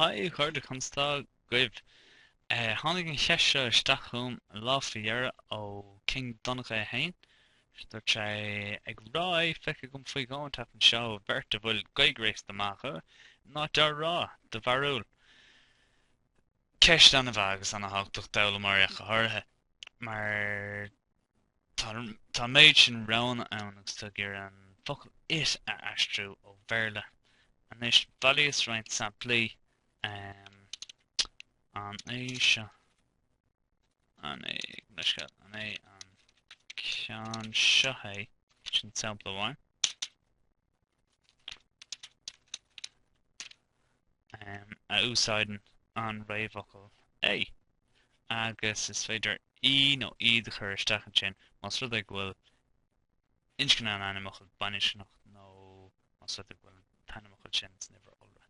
Hi, a chairde, conas atá sibh? Tháinig an cheist seo isteach chugam an lá faoi dheireadh ó King Donncha é féin. Dúirt sé, ag rá é, feicthe agam faoi dheoidh an tseachtain seo, beirt a bhfuil Gaeilge réasúnta maith acu á rá, do bharúil? Ceist ana-mhaith agus ana-thábhachtach d'fhoghlaimeoirí ach go háirithe, mar Tá an méid sin roghanna ann agus tú ag iarraidh an focal 'it' a aistriú ó Bhéarla. Anois, bhailíos roinnt samplaí. Um, an é seo? An é, leithscéal, an é an ceann seo é? Sin sampla amháin. a úsáideann an réamhfhocal 'é' agus is féidir 'í' nó 'iad' a chur isteach ansin más rud é go bhfuil inscne an ainmfhocail baininscneach nó más rud é go bhfuil an t-ainmfhocal sin san uimhir iolra.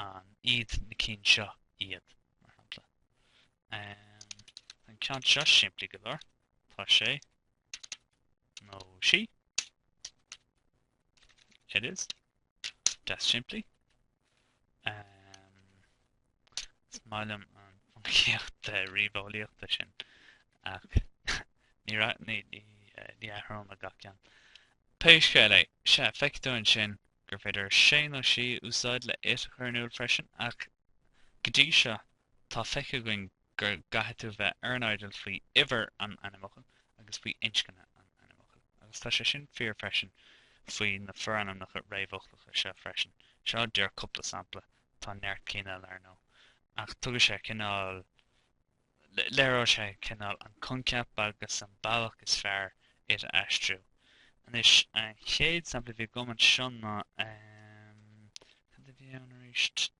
an iad na cinn seo iad, mar shampla. an ceann seo simplí go leor, tá sé nó sí, it is. deas simplí. Is maith liom an phoincíocht ríomheolaíochta sin ach ní raibh, ní, ní, ní athróidh mé gach ceann. Pé scéal é, sea, feicfidh tú ansin gur féidir sé nó sí a úsáid le it a chur in iúl freisin ach go dtí seo tá feicthe againn go gcaithfidh tú bheith ar an airdeall faoi uimhir an ainmfhocail agus faoi inscne an ainmfhocail. Agus tá sé sin fíor freisin faoi na forainmneacha réamhfhoclacha seo freisin. Seo díreach cúpla sampla, tá neart cinn eile, ar ndóigh, ach tugann sé cineál, léireoidh sé cineál an coincheap agus an bealach is fearr it a aistriú. Anois, an chéad sampla a bhí agam anseo ná, cad a bhí ann arís?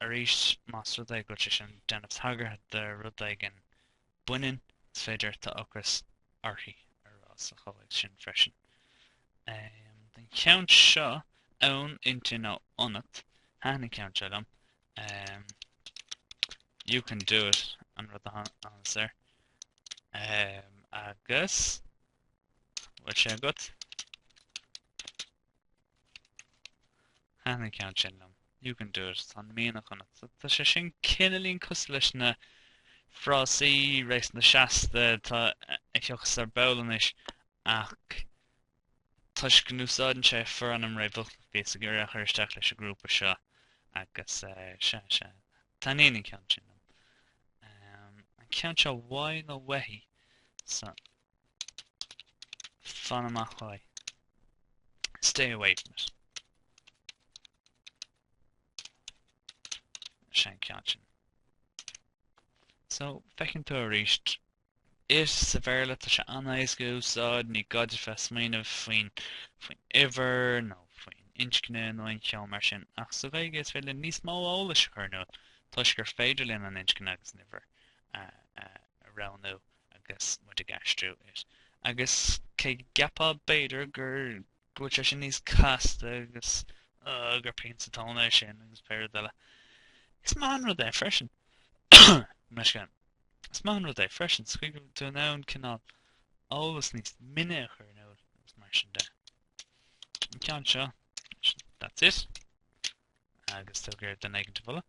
Arís, más rud é go bhfuil sé sin ag déanamh tagartha do rud éigin baineann, is féidir tá ocras uirthi a rá sa chomhthéacs sin freisin. den cheann seo ann, inti nó ionat, thaitin an ceann seo liom, you can do it, an rud a tháinig soir. agus, bhfuil sé agat? Thaitin an ceann sin liom. You can do it. Tá an mianach ionat. Tá sé sin cineálín cosúil leis na frásaí réasúnta seasta atá ag teacht ar ball anois ach toisc go n-úsáideann sé forainm réamhfhoclach bhíos ag iarraidh é a chur isteach leis an ghrúpa seo agus sea, sea. Taitníonn an ceann sin liom. An ceann seo uaidh nó uaithi? So, Fan amach uaidh. Stay away from it. Sé an ceann sin. So, feiceann tú arís it sa Bhéarla tá sé an-éasca a úsáid, ní gá duit bheith ag smaoineamh faoin, faoin uimhir nó faoin inscne nó aon cheo mar sin ach sa Ghaeilge is féidir linn níos mó eolais a chur in iúl toisc gur féidir linn an inscne agus an uimhir a roghnú agus muid ag aistriú it. Agus cé go gceapfá, b'fhéidir, gur go bhfuil sé sin níos casta agus, á, gur pian sa tóin é sin agus pé rud eile, is maith an rud é freisin. Meascán. Is maith an rud é freisin sa chaoi go bhfuil tú in ann cineál eolas níos mine a chur in iúl agus mar sin de. An ceann seo, that's it. Agus tagairt do Negative Uladh.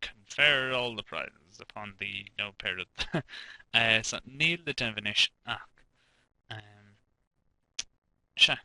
Confer all the prizes upon the nó pé rud. So níl le déanamh anois ach um, sea.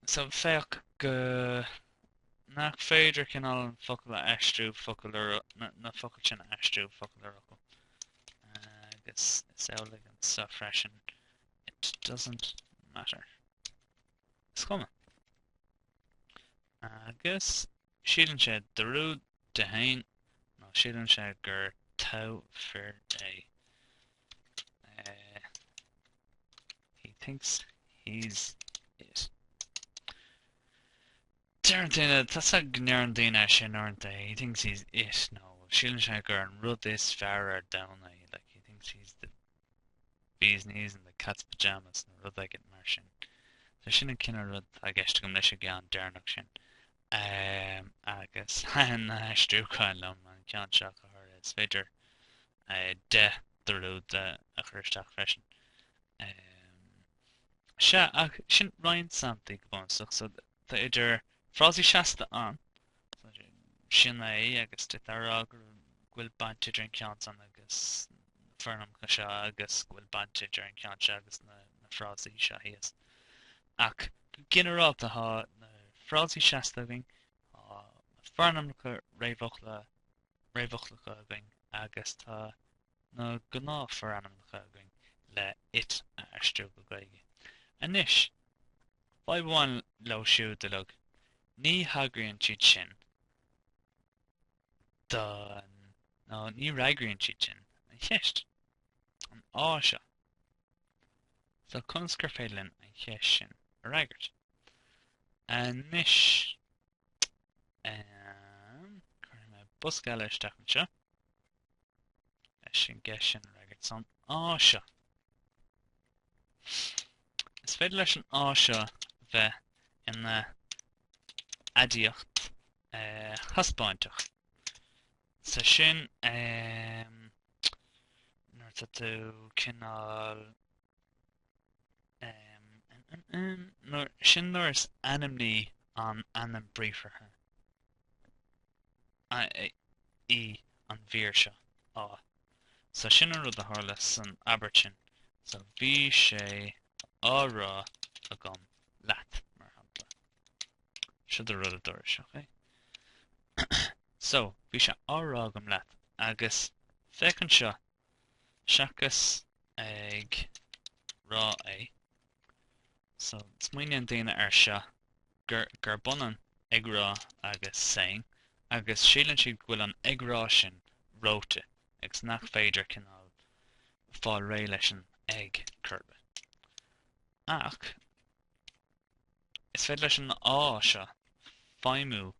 So féach go nach féidir cineál an focal a aistriú focal ar na, na focail sin a aistriú focal ar fhocal. Agus is amhlaidh anseo freisin. It doesn't matter. Is cuma. Agus síleann sé an dúrud de féin nó síleann sé gur togha fir é. Eh, he thinks he's it. Deireann daoine, tá a fhios agat go ndeireann daoine é sin uaireanta, he thinks he's it nó síleann sé gur an rud is fearr ar domhan é, like he thinks he's the bees knees and the cat's pyjamas nó rud éigin mar sin. So sin an cineál rud atá i gceist agam leis an gceann deireanach sin. Um, agus thaithin na haistriúcháin liom an ceann seo go háirithe, is féidir uh, an dúrud de a chur isteach freisin. Um, sea, ach sin roinnt samplaí go bunúsach, so tá idir frásaí seasta ann, Sin é agus d'fhéadfá a rá go bhfuil baint idir an ceann san agus na forainmneacha seo agus go bhfuil baint idir an ceann seo agus na frásaí seo thíos. Ach go ginearálta thá na frásaí seasta againn, tá na forainmneacha réamhfhocla réamhfhoclacha againn agus tá na gnáthfhorainmneacha againn le it a aistriú go Gaeilge. Anois, fadhb amháin leo siúd uilig, ní thagraíonn siad sin don, nó ní fhreagraíonn siad sin an cheist, an á seo. So conas gur féidir linn an cheist sin a fhreagairt? Anois, Cuirfidh mé bosca eile isteach anseo. Leis an gceist sin a fhreagairt, an á seo. Is féidir leis an á seo a bheith ina aidiacht eh, thaispeáinteach. Sa sin eh, nuair atá tú cineál Sin nuair is ainmní an ainm briathartha í an mhír seo, á. So sin an rud a tharla san abairt sin. So bhí sé á rá agam leat, mar shampla. Seo é an rud a dúiris, ok? So bhí sé á rá agam leat, agus féach anseo seachas ag rá é. So, smaoiníonn daoine air seo gur, gurb ionann ag rá agus saying, agus síleann siad go bhfuil an ag rá sin reoite agus nach féidir cineál fáil réidh leis an ag cuir i gcás. Ach, is féidir leis an á seo feidhmiú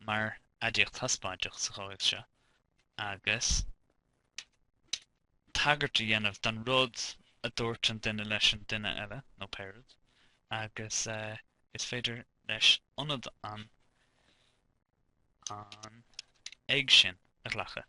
mar aidiacht thaispeáinteach sa chomhthéacs seo, agus tagairt a dhéanamh don rud a dúirt an duine leis an duine eile, nó pé rud, agus is féidir leis ionad an an ag sin a ghlacadh.